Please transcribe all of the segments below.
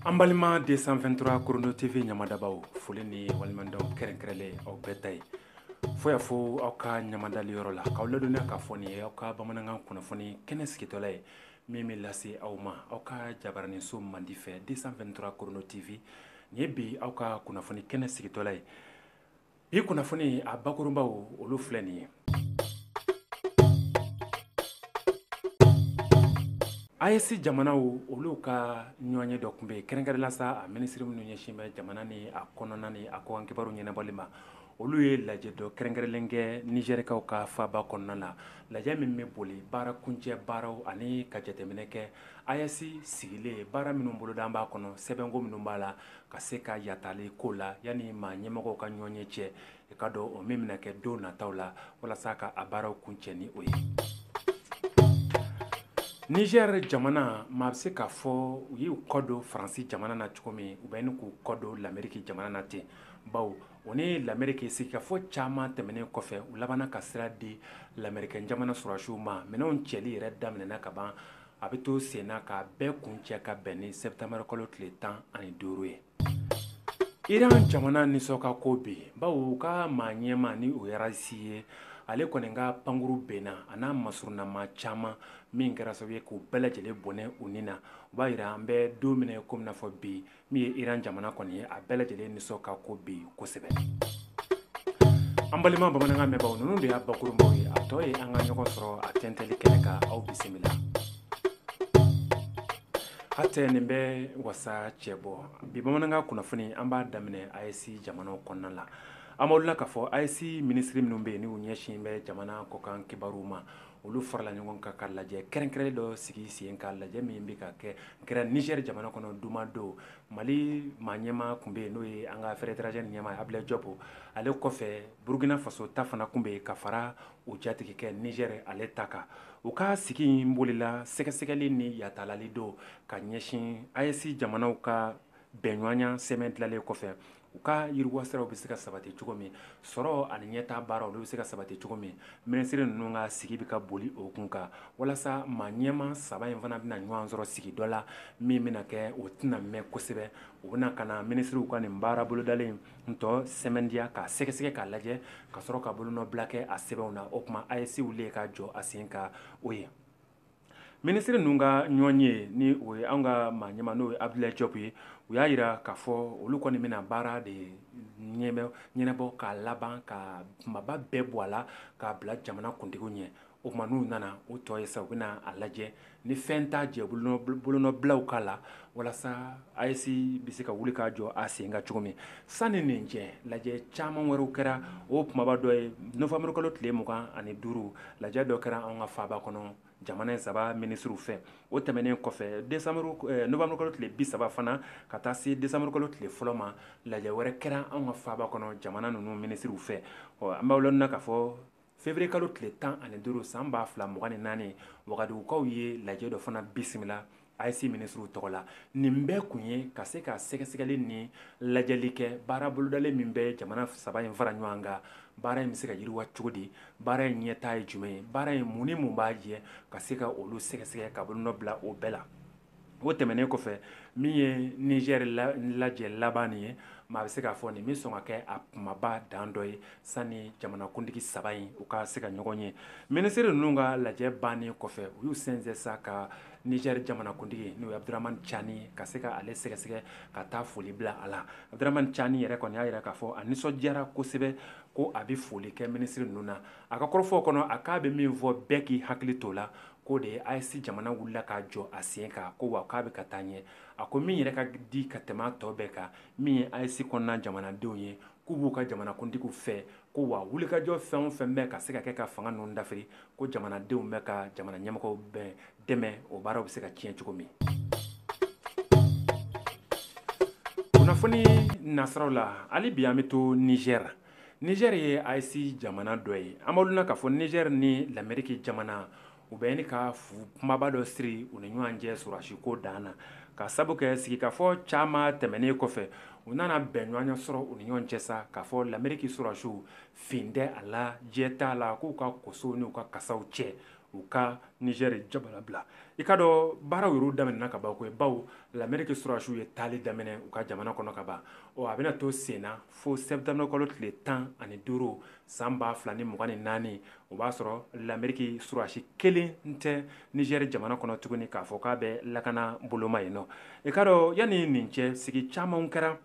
an balima 223 Chrono tv ɲamadabaaw foli ni waleɲumandɔn kɛrɛnkɛrɛnlen aw bɛɛ ta ye fo y'a fo aw ka ɲamadali yɔrɔ la k'aw ladɔnniya k'a fɔ nin ye aw ka bamanankan kunnafoni kɛnɛ sigitɔla ye min bɛ lase aw ma aw ka jabaraninso mandi fɛ 223 Chrono tv nin ye bi aw ka kunnafoni kɛnɛ sigitɔla ye bi kunnafoni a bakurunbaw olu filɛ nin ye AES jamanaw olu ka ɲɔgɔnye dɔ tun bɛ yen kɛrɛnkɛrɛnnen la sa a minisiri minnu ɲɛsin bɛ jamana ni a kɔnɔna ni a kɔkan kibaru ɲɛnabɔli ma, olu ye lajɛ dɔ kɛrɛnkɛrɛnnen kɛ Nizɛrikaw ka faaba kɔnɔna na, lajɛ min bɛ boli baara kuncɛ baaraw ani ka jateminɛ kɛ AES sigilen baara minnu bolodalen b'a kɔnɔ sɛbɛnko minnu b'a la ka se ka yatali ko la yanni maa ɲɛmɔgɔw ka ɲɔgɔnye cɛ i ka dɔn o min bɛna kɛ don nataw la walasa ka a baaraw kuncɛ ni o ye Nizɛri jamana maa bɛ se k'a fɔ u y'u kɔ don faransi jamana na cogo min u bɛ ɲini k'u kɔ don lameriki jamana na ten bawo u ni lameriki sigikafɔ caman tɛmɛnen kɔfɛ u labanna ka sira di lamerikɛn jamana sɔrɔdasiw ma minɛnw cɛli yɛrɛ daminɛna ka ban A bɛ to senna k'a bɛɛ kuncɛ ka bɛn ni sɛtanburukalo tile tan ani duuru ye iran jamana nisɔn ka go bi bawo u ka maa ɲɛma ni o ye Raisi ye ale kɔni ka pankuru binna a n'a masurunnamaa caman min kɛra sababu ye k'u bɛɛ lajɛlen bɔnɛ u ni na u b'a yira an bɛ don min komi n'a fɔ bi min ye iran jamana kɔni ye a bɛɛ lajɛlen nisɔn ka go bi kosɛbɛ an balima bamanankan mɛnbaaw ninnu de y'a bakurunbaw ye a tɔ ye an ka ɲɔgɔn sɔrɔ a tɛntɛli kɛnɛ kan aw bisimila hatɛ nin bɛ wasa cɛ bɔ bi bamanankan kunnafoni an b'a daminɛ AES jamanaw kɔnɔna la an b'aw la k'a fɔ AES minisiri minnu bɛ yen n'u ɲɛsin bɛ jamana kɔkan kibaruw ma olu farala ɲɔgɔn kan ka lajɛ kɛrɛnkɛrɛnnen dɔ sigi sen kan lajɛ min bɛ ka kɛ kɛra Nizɛri jamana kɔnɔ juma don mali maa ɲɛma tun bɛ yen n'o ye an ka affaires étrangères ɲɛma abudulayi jɔp ale kɔfɛ burukina faso ta fana tun bɛ yen ka fara u jatigikɛ Nizɛri ale ta kan u ka sigi in bolila sɛgɛsɛgɛli ni yatalali don ka ɲɛsin AES jamanaw ka bɛnɲɔgɔnya sɛbɛn dilanlen kɔfɛ U ka yiriwasiraw bɛ se ka sabati cogo min sɔrɔ ani ɲɛtaa baaraw olu bɛ se ka sabati cogo min minisiri ninnu ka sigi bɛ ka boli o kun kan walasa maa ɲɛma saba in fana bɛna ɲɔgɔn sɔrɔ sigi dɔ la min bɛna kɛ o tɛna mɛn kosɛbɛ u bɛna ka na minisiriw ka nin baara bolodalen in tɔ sɛmɛntiya k'a sɛgɛsɛgɛ k'a lajɛ ka sɔrɔ ka bolonɔbila kɛ a sɛbɛnw na o tuma AES wulilen ka jɔ a sen kan o ye minisiri ninnu ka ɲɔgɔnye ni o ye an ka maa ɲɛma n'o ye abudulayi jɔp ye u y'a yira k'a fɔ olu kɔni bɛna baara de ɲɛnabɔ k'a laban ka kumaba bɛɛ bɔ a la k'a bila jamana kuntigiw ɲɛ o tuma n'u nana u tɔ ye sa u bɛna a lajɛ ni fɛn t'a jɛ bolonɔbilaw k'a la walasa AES bɛ se ka wuli k'a jɔ a sen kan cogo min sanni nin cɛ lajɛ caman wɛrɛw kɛra o kumaba dɔ ye nowanburukalo tile mugan ani duuru lajɛ dɔ kɛra an ka faaba kɔnɔ jamana in saba minisiriw fɛ o tɛmɛnen kɔfɛ nowanburukalo tile bi saba fana ka taa se desanburukalo tile fɔlɔ ma lajɛ wɛrɛ kɛra an ka faaba kɔnɔ jamana ninnu minisiriw fɛ ɔ an b'aw ladɔnniya k'a fɔ Fevrier kalo tile 15 san 2024 Wagadugukaw ye lajɛ dɔ fana bisimila AES minisiriw tɔgɔ la. Nin bɛɛ kun ye ka se ka sɛgɛsɛgɛli ni lajɛli kɛ baara bolodalen min bɛ jamana saba in fara ɲɔgɔn kan, baara in bɛ se ka yiriwa cogo di? Baara in ɲɛtaa ye jumɛn ye? Baara in mun ni mun b'a jɛ? Ka se ka olu sɛgɛsɛgɛ ka bolonɔ bila o bɛɛ la. o tɛmɛnen kɔfɛ min ye nizɛri lajɛ laban ye maa bɛ se k'a fɔ nin bɛ sɔn ka kɛ a kumaba dan dɔ ye sani jamanakuntigi saba in u ka se ka ɲɔgɔn ye minisiri ninnu ka lajɛ bannen kɔfɛ u y'u sɛnsɛn sa ka nizɛri jamanakuntigi n'o ye Abdramane Tchani ka se ka ale sɛgɛsɛgɛ ka taa foli bila a la Abdramane Tchani yɛrɛ kɔni y'a jira k'a fɔ a nisɔndiyara kosɛbɛ ko a bɛ foli kɛ minisiri ninnu na a ka kɔrɔfɔw kɔnɔ a k'a bɛ min fɔ bɛɛ k'i hakili t'o la k'o de ye AES jamana wulila k'a jɔ a sen kan ko wa k'a bɛ ka taa ɲɛ, a ko min yɛrɛ ka di ka tɛmɛ a tɔ bɛɛ kan min ye AES kɔnɔna jamanadenw ye k'u b'u ka jamanakuntigiw fɛ ko wa wulikajɔ fɛn o fɛn bɛ ka se ka kɛ ka fanga ninnu dafiri ko jamanadenw bɛ ka jamana ɲɛmɔgɔw bɛɛ dɛmɛ o baaraw bɛ se ka tiɲɛ cogo min. Kunnafoni nasiraw la, hali bi an bɛ to Nizɛri. Niger ye AES jamana dɔ ye. An b'aw ladɔnniya k'a fɔ Niger ni l'Amerique jamana, u bɛ ɲini ka fuu kumaba dɔ siri u ni ɲɔgɔn cɛ sɔrɔdasiko dan na. Ka sabu kɛ sigikafɔ caman tɛmɛnen kɔfɛ, u nana bɛnɲɔgɔnya sɔrɔ u ni ɲɔgɔn cɛ sa, k'a fɔ l'Amerique sɔrɔdasiw fin tɛ a la, jɛ t'a la k'u ka kosow n'u ka kasaw cɛ, u ka Niger jamana bila. I k'a dɔn baaraw yɛrɛ daminɛna ka ban koyi, bawo l'Amerique sɔrɔdasiw ye taali daminɛ u ka jamana kɔnɔ ka ban, ɔ a bɛna to sen na. fo sɛtanburukalo tile tan ani duuru san ba fila ni mugan ni naani o b'a sɔrɔ lameriki surasi kelen tɛ nizɛri jamana kɔnɔ tuguni k'a fɔ k'a bɛ lakana boloma yen ɔ i k'a dɔn yanni nin cɛ sigi caman kɛra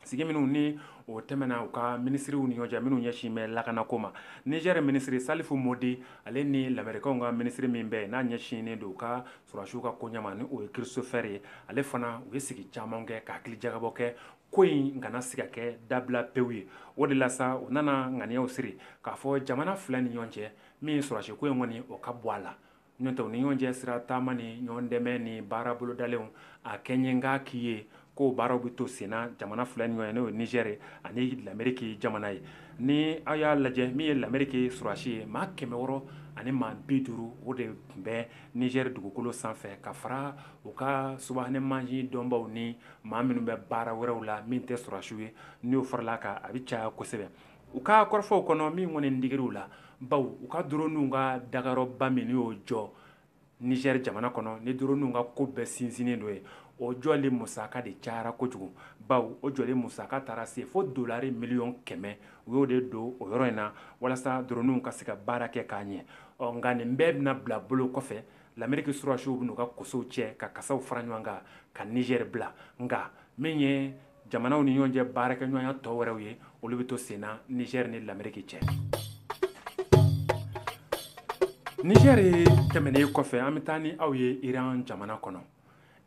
sigi minnu ni o tɛmɛna u ka minisiriw ni ɲɔgɔncɛ minnu ɲɛsin bɛ lakanako ma nizɛri minisiri salifu mɔdi ale ni lamerikaw ka minisiri min bɛ n'a ɲɛsinnen don u ka surasiw ka koɲɛ ma ni o ye Christopher ye ale fana u ye sigi caman kɛ ka hakilijakabɔ kɛ ko in kana se ka kɛ dabila pewu ye o de la sa u nana ŋaniyaw siri k'a fɔ jamana fila ni ɲɔgɔn cɛ min ye sɔrɔdasi ko in kɔni o ka bɔ a la n'o tɛ u ni ɲɔgɔn cɛ sira taama ni ɲɔgɔn dɛmɛ ni baara bolodalenw a kɛɲɛnka k'i ye k'o baaraw bɛ to senna jamana fila ni ɲɔgɔn ye n'o ye Niger ye ani Lameriki jamana ye ni aw y'a lajɛ min ye Lameriki sɔrɔdasi ye maa kɛmɛ wɔɔrɔ ani maa bi duuru o de tun bɛ Niger dugukolo sanfɛ ka fara u ka subahana mansin dɔnbaw ni maa minnu bɛ baara wɛrɛw la min tɛ sɔrɔdasiw ye n'o farala kan a bɛ caya kosɛbɛ u ka kɔrɔfɔw kɔnɔ min kɔni digir'u la baw u ka droniw ka dagayɔrɔba min y'o jɔ Niger jamana kɔnɔ ni droniw ka ko bɛɛ sinsinnen don yen o jɔli musaka de cayara kojugu baw o jɔli musaka taara se fo dolari miliyɔn kɛmɛ u y'o de don o yɔrɔ in na walasa droniw ka se ka baara kɛ k'a ɲɛ ɔ nka nin bɛɛ bɛna bila bolo kɔfɛ Lameriki sɔrɔdasiw bɛn'u ka kosow cɛ ka kasaw fara ɲɔgɔn kan ka Niger bila nka min ye jamanaw ni ɲɔgɔn cɛ baarakɛɲɔgɔnya tɔw wɛrɛw ye olu bɛ to senna Niger ni lameriki cɛ Niger tɛmɛnen kɔfɛ an bɛ taa ni aw ye iran jamana kɔnɔ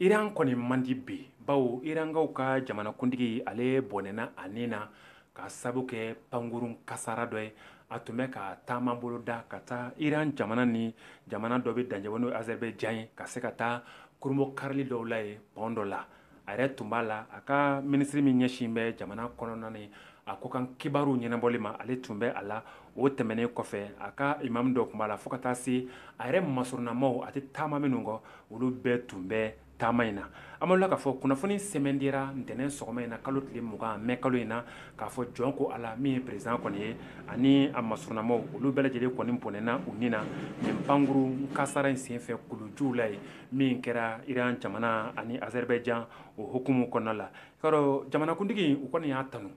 iran kɔni man di bi baw irankaw ka jamanakuntigi ale bɔnɛna a ni na ka sababu kɛ pankurun kasara dɔ ye a tun bɛ ka taama bolo da ka taa iran jamana ni jamana dɔ bɛ dancɛ n'o ye Azerbaïdjan ye ka se ka taa kurunbonkarili dɔw la yen pɔn dɔ la a yɛrɛ tun b'a la a ka minisiri min ɲɛsin bɛ jamana kɔnɔna ni a kɔkan kibaruw ɲɛnabɔli ma ale tun bɛ a la o tɛmɛnen kɔfɛ a ka imamu dɔ tun b'a la fo ka taa se a yɛrɛ masurunnamaw a tɛ taama minnu kɔ olu bɛɛ tun bɛ taama in na an bal'o la k'a fɔ kunnafoni sɛmɛntiyara ntɛnɛn sɔgɔma in na kalo tile mugan mɛ kalo in na k'a fɔ jɔn ko Ala min ye perezidan kɔni ye ani a masurunnamaw olu bɛɛ lajɛlen kɔni bɔnɛna u ni na nin pankurun kasara in senfɛ kulujuw la yen min kɛra iran jamana ani Azerbaïdjan o hukumu kɔnɔna la i k'a dɔn jamanakuntigi u kɔni y'a tanu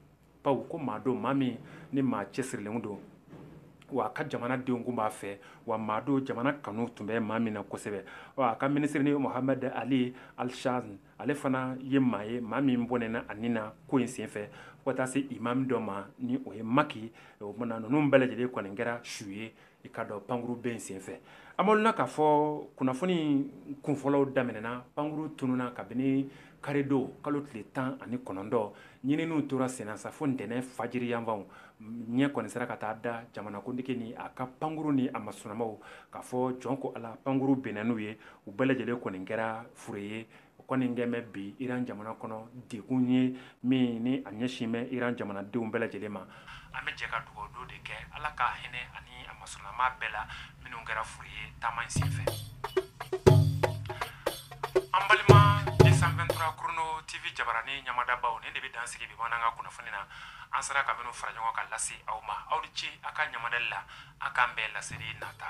baw ko maa don maa min ni maa cɛsirilen don wa a ka jamana denw tun b'a fɛ wa maa don jamana kanu tun bɛ maa min na kosɛbɛ a ka minisiri ni Mohamed Ali Al-Hashem ale fana ye maa ye maa min bɔnɛna a ni na ko in senfɛ fo ka taa se imamu dɔ ma ni o ye maki o tuma na ninnu bɛɛ lajɛlen kɔni kɛra su ye i k'a dɔn pankuru bin in senfɛ an bal'o la k'a fɔ kunnafoni kunfɔlɔw daminɛna pankuru tununna kabini karidon kalo tile tan ani kɔnɔntɔn ɲininiw tora senna sa fo ntɛnɛn fajiri yanfanw ɲɛ kɔni sera ka taa da jamanakuntigi ni a ka pankuru ni a masurunnamaw k'a fɔ jɔn ko Ala pankuru binna n'u ye u bɛɛ lajɛlen kɔni kɛra fure ye o kɔni kɛlen bɛ bi iran jamana kɔnɔ degun ye min ni a ɲɛsin bɛ iran jamanadenw bɛɛ lajɛlen ma an bɛ jɛ ka dugawu don de kɛ ala ka hinɛ ani a masurunnama bɛɛ la minnu kɛra fure ye taama in senfɛ an balima deux cent vingt-trois chrono tv jabarani ɲamadabaw nin de bɛ dan sigi bi bamanankan kunnafoni na an sera ka minnu fara ɲɔgɔn kan lase aw ma aw ni ce a ka ɲamadali la a k'an bɛn laseli nata